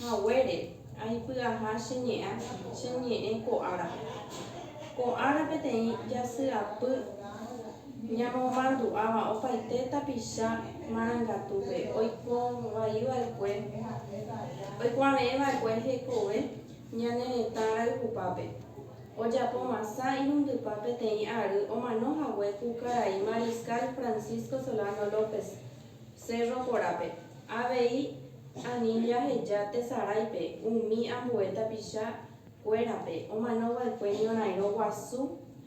Haguére, aipyaha che ñe'ã, che ñe'ẽ ko ára. Ko ára peteĩ jasyapy ñamomandu'áva opaite tapicha marangatúpe oikovaiva'ekue, oikuave'ẽva'ekue hekove ñane retã rayhupápe. Ojapo masã irundypa peteĩ ary omano hague ku karai Mariscal Francisco Solano López, Cerro Jorape. Avei ani jaheja tesaráipe umi ambue tapicha kuérape omano va'ekue ñorairõ guasu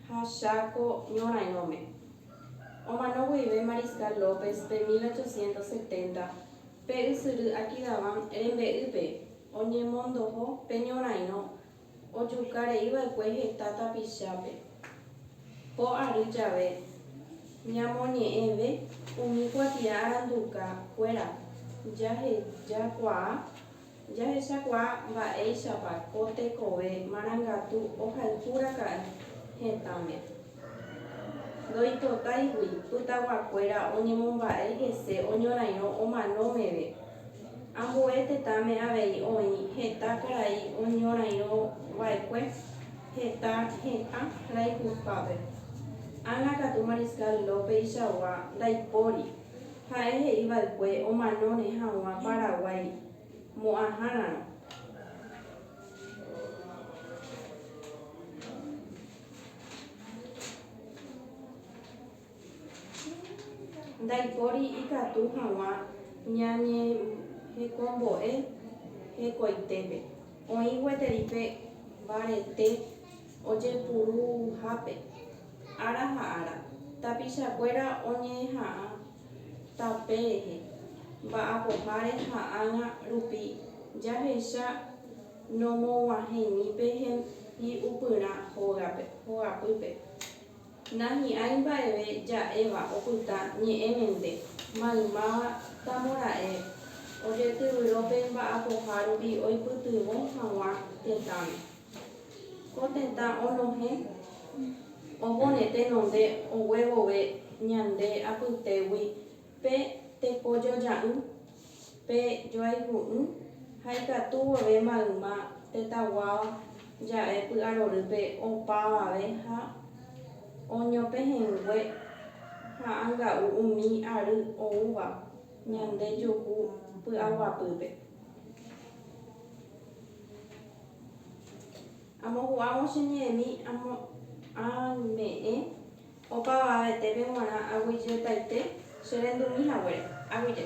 ha Chaco ñorairõme. Omano guive Mariscal López pe 1870 pe ysyry Aquidaván rembe'ýpe oñemondoho pe ñorairõ Ojuka rei va'ekue heta tapichápe. Ko ary jave, ñamoñe'ẽve umi kuatia aranduka kuéra, jahejakuaa jahechakuaa mba'éichapa ko tekove marangatu ohayhu raka'e hetãme. Ndoipotáigui pytaguakuéra oñemomba'e hese oñorairõ omano meve. Ambue tetãme avei oĩ heta karai oñorairõ va'ekue heta hetã rayhupápe. Ana katu Mariscal López-ichagua ndaipóri, ha'e he'i va'ekue omanóne hag̃ua Paraguái mo'ãhárarõ. Ndaipóri ikatu hag̃ua ñañehekombo'e hekoitépe, oĩ gueteri pe mbarete ojepuruhápe ára ha ára. Tapichakuéra oñeha'ã tape rehe, mba'apoháre ha ág̃a rupi jahecha. Nomoguahẽimi pe hembi'upyrã hógape, hogapýpe. Nahi'ãi mba'eve ja'éva opyta ñe'ẽmente, maymáva tamora'e ojetyvyro pe mba'apoha rupi oipytyvõ hag̃ua tetãme. Ko tetã onohẽ ovoneténonte oguevove ñande apytégui Pe tekojoja'ỹ, pe joayhu'ỹ ha ikatu vove mayma tetãguáva ja'e py'arorýpe opavave ha oñopehẽngue ha anga'u umi ary oúva ñande juhu py'aguapýpe. Amohu'ãvo che ñe'ẽmi amo'ãme'ẽ. Opavavetépe g̃uarã aguyjetaite che rendumi haguére. Aguyje.